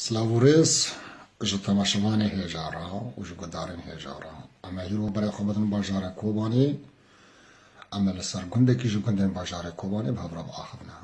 Silav û rêz ji temaşevanê hêja re û ji guhdarên hêja re. Em ê hîro berê xwe bidin bajarê Kobanê. Em ê li ser gundekî ji gundên bajarê Kobanê bi hev re biaxivne.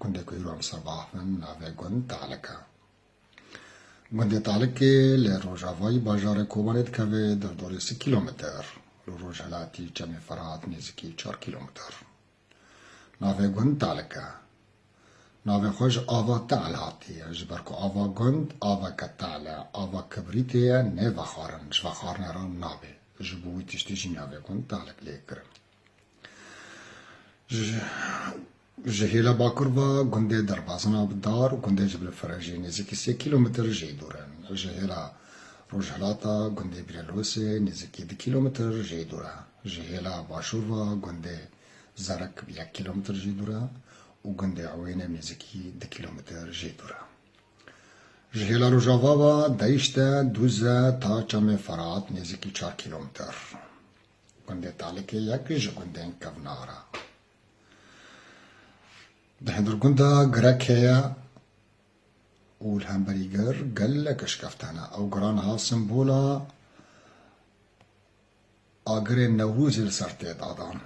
Gundê ku hîro em li ser biaxivin navê gund Te'lik e. Gundê Te'likê li rojavayî bajarê Kobanê dikeve derdorê sî kîlometer, li rojhilatî Çemê Ferhat nêzîkî çar kîlometer. Navê gund Talik e. Navê xwe ji ava Tal hatiye. Ji ber ku ava gund aveke tal e, ava kibrîtê ye, nê vexwarin, ji vexwarinê re nabê. Ji bo wî tiştî jî navê gund Talik lê kirin. Ji hêla bakur ve gundê derbazin a bi dar, gundê ji Bilfirê jî nêzîkî sê kîlometr jê dûr e. Ji hêla rojhilata gundê Bîrelosê nêzîkî du kîlometr jê dûr e. Ji hêla başûr ve gundê Zerik yek kîlometr jî dûr e û gundê Ewêne nêzîkî du kîlometr jî dûr e. Ji hêla rojava ve Deyşt e, Dûze ta Çemê Ferat nêzîkî çar kîlometr. Gundê Talikê yek ji gundên kevnar e. Di hindirgunda Girek heye û li hemberî gir gelek eşkeftan e. Ew giran ha simbola Agirê Newrozê li ser tê dadan.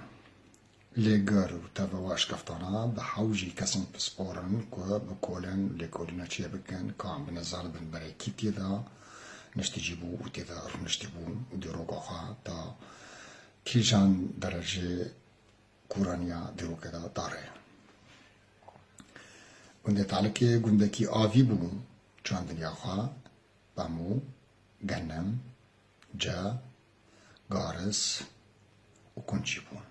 Lê gar û tevewa şkeftana bi hewcî kesan pisporin ku bi kolên lêkolîna çê bikin ka bine zanibin berê kî tê de niştîjî bû û tê de rûniştî bû û dîroka xwe da kîjan derecê kûraniya dîrokê de da rê. Gundê Talikê gundekî avî bû, çandiniya xwe, pemû, genim, Ca, garis û kunçî bûn.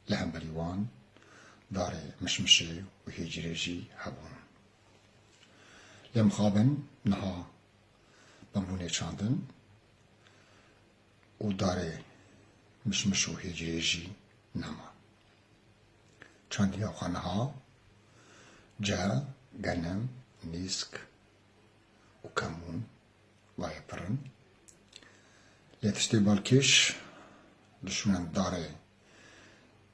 Li hemberî wan darê mişmişê û hêcirê jî hebûn. Lê mixabin niha bimûnê çandin û darê mişmiş û hêcirê jî nema. Çandiya xwe niha ca, genim, nîsk û kemûn Wayê pir in. Lê tiştê balkêş li şûnên darê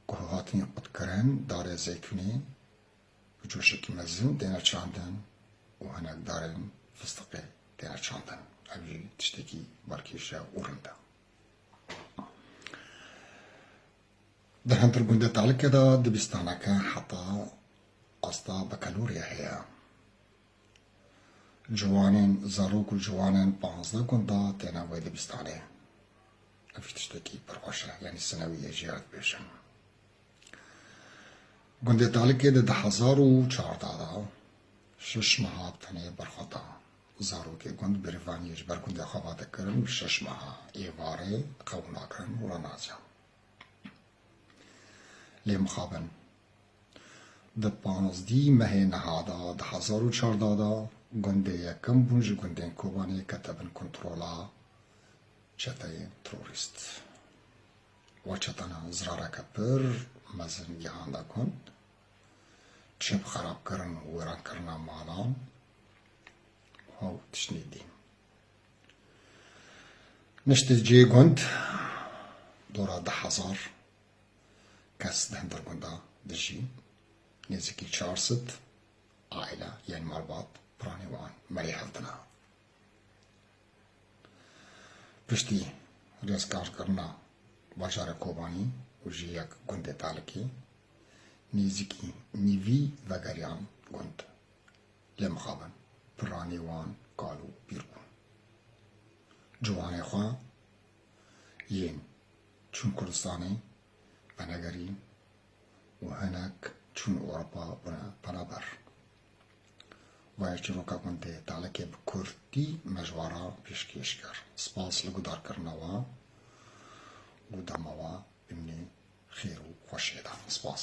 ku hatin qutkirin, darê zeytûnê bi coşekî mezin têne çandin û hinek darên fistiqê têne çandin. Ev jî tiştekî balkêş e û rind e. Di hindir gundê Talike de dibîstaneke heta asta bi kelûrê heye. Ciwanên zarok û ciwanên panzdeh gunda têne wê dibistanê. Ev jî tiştekî pir xweş e, yanî sinewiyê jî ya dibêjin. Gundê Talikê di di hezar û çardeh de şeş meha tenê berxwe da. Zarokê gund bêrîvaniyê ji ber gundê xwe va dikirin bi şeş meha êvarê qew nakirin û re naziyan. Lê mixabin. Di pazdî mehê niha de di hezar û çar de de gundê yekem bûn ji gundên Kobanê kete bin kontrola çeteyên terorîst. Wa çete na zirareke pir mezin gihanda gund, çep xerabkirin û wêrankirina malan û tiştên din. Niştê cihê gund dora du hezar kes di hin dergon de dijîn, nêzîkî çar sed aîle yên malbat piranî wan merê hev dina. Piştî rêzkarkirina bajarê Kobanî û jî yek gundê Talikê, nêzîkî nîvî vegeriyan gund. Lê mixabin piranî wan kal û pîr bûn. Ciwanê xwe. yên çûn Kurdistanê venegerî û hinek çûn Ewropa bûne penaber. Vaya çîroka gundê Talekê bi kurdî mejwara pêşkêş kir. Spas li gudarkirina wan û dema wan bimîne xêr û xweşiyê de. Spas.